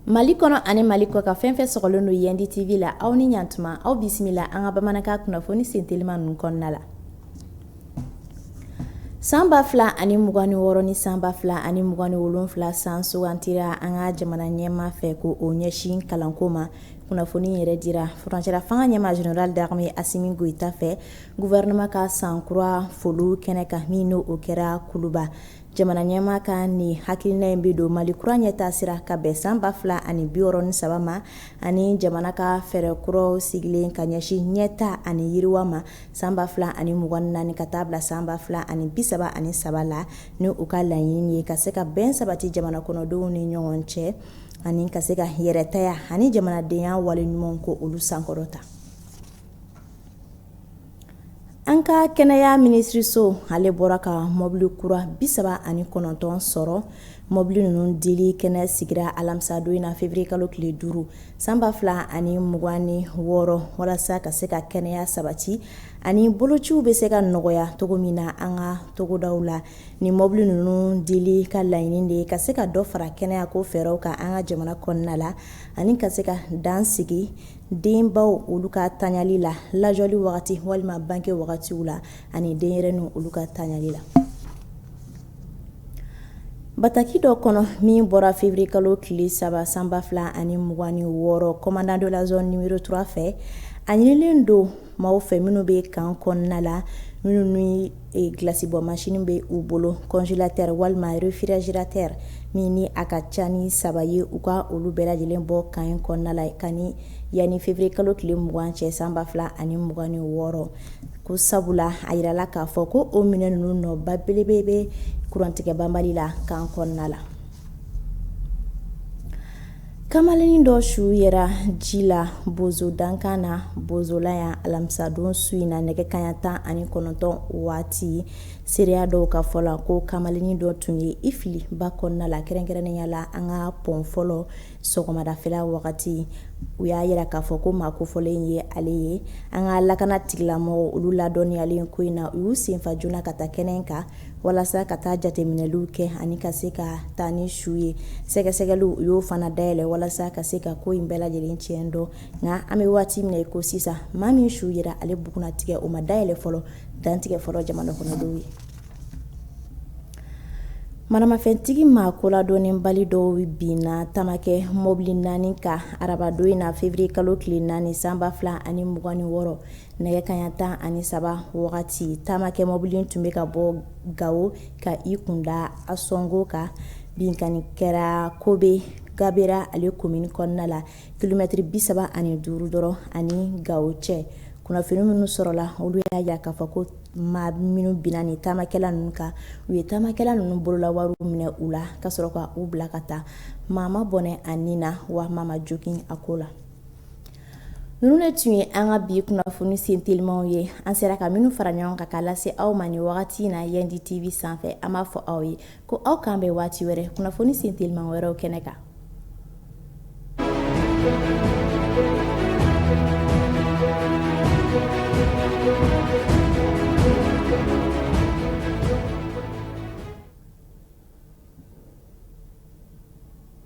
Mali kɔnɔ ani mali kɔkan fɛn o fɛn sɔgɔlen don yandi TV la aw ni a tuma aw bisimila an ka bamanankan kunnafoni senteliman ninnu kɔnɔna la san ba fila ani mugan ni wɔɔrɔn ni san ba fila ani mugan ni wolonwula san sugandira an ka jamana ɲɛmaa fɛ ko o ɲɛsin kalanko ma kunnafoni yɛrɛ dira furancɛla fanga ɲɛmaa zenerali darime Asimi Goyita fɛ gɔfɛrɛnaman ka san kura foli kɛnɛ kan min n' o kɛra kuluba jamana ɲɛmaa ka nin hakilina in bɛ don mali kura ɲɛtaa sira ka bɛn san ba fila ani bi wɔɔrɔ ni saba ma ani jamana ka fɛɛrɛ kuraw sigilen ka ɲɛsin ɲɛtaa ani yiriwa ma san ba fila ani mugan ni naani ka taa bila san ba fila ani bi saba ani saba la ni u ka laɲini ye ka se ka bɛn sabati jamana kɔnɔdenw ni ɲɔgɔn cɛ ani ka se ka yɛrɛtaya ani jamanadenya wale ɲuman ko olu sankɔrɔta an ka kɛnɛya minisiririso ale bɔra ka mɔbili kura bi saba ani kɔnɔntɔn sɔrɔ mɔbili ninnu dili kɛnɛ sigira alamisadon in na février kalo tile duuru sanba fila ani mugan ni wɔɔrɔ walasa ka se ka kɛnɛya sabati ani bolociw bɛ se ka nɔgɔya cogo min na an ka togodaw la Ni mɔbili ninnu dili ka laɲini ye ka se ka dɔ fara kɛnɛya ko fɛnw kan an ka jamana kɔnɔna la ani ka se ka dan sigi denbaw olu ka tali la lajɛli wagati walima bange wagati la ani denyɛrɛninw olu ka tali la bataki dɔ kɔnɔ min bɔra février kalo tile saba sanba fila ani mugan ni wɔɔrɔ commandant de la zone numéro trois fɛ a ɲinilen don maaw fɛ minnu bɛ kan kɔnɔna la minnu ee glace-bɔ machine bɛ u bolo congélateur walima réfrigérateur min ni a ka ca ni saba ye, u ka olu bɛɛ lajɛlen bɔ kan in kɔnɔna la ka ni yanni février kalo tile mugan cɛ san ba fila ani mugan ni wɔɔrɔ ko sabula a yirala k'a fɔ ko o minɛn ninnu nɔba belebele bɛ kurantigɛbanbali la kan kɔnɔna la. kamalennin dɔ su yera ji la bozo dankan na bozola yan alamisadon su in na nɛgɛ kanɲɛ tan ani kɔnɔntɔn waati seereya dɔw ka fɔ la ko kamalennin dɔ tun ye i fili ba kɔnɔna la kɛrɛnkɛrɛnnenya la an ka pɔn fɔlɔ sɔgɔmadafɛla wagati u y'a jira k'a fɔ ko maa kofɔlen ye ale ye an ka lakana tigilamɔgɔ olu ladɔnniyalen ko in na u y'u sen fa joona ka taa kɛnɛ kan walasa ka taa jateminɛliw kɛ ani ka se ka taa ni su ye sɛgɛsɛgɛliw u y'o fana dayɛlɛ walasa ka se ka ko in bɛɛ lajɛlen tiɲɛ dɔn nka an bɛ waati min kɔnɔ sisan maa min su yera ale bugunnatigɛ o ma dayɛlɛ fɔlɔ dantigɛ fɔlɔ jamana kɔnɔdenw ye maramafɛntigi maa koladɔnnenbali dɔw binna taamakɛ mɔbili naani kan arabadon in na feburuye kalo tile naani san ba fila ani mugan ni wɔɔrɔ nɛgɛ kanɲɛ tan ani saba wagati taamakɛ mɔbili tun bɛ ka bɔ gawo ka i kunda ansongo kan binkanni kɛra kobe gabero ale komini kɔnɔna la kilomɛtiri bi saba ani duuru dɔrɔn ani gawo cɛ kunnafoni minnu sɔrɔla olu y'a jira k'a fɔ ko maa minnu binna taamakɛla ninnu kan u ye taamakɛla ninnu bolola wari minɛ u la ka sɔrɔ k'u bila ka taa maa ma bɔnɛ a ni na wa maa ma jogin a ko la ninnu de tun ye an ka bi kunnafoni sen telimaw ye an sera ka minnu fara ɲɔgɔn kan ka lase aw ma nin wagati in na yandi tv sanfɛ an b'a fɔ aw ye ko aw k'an bɛn waati wɛrɛ kunnafoni sen teliman wɛrɛw kɛnɛ kan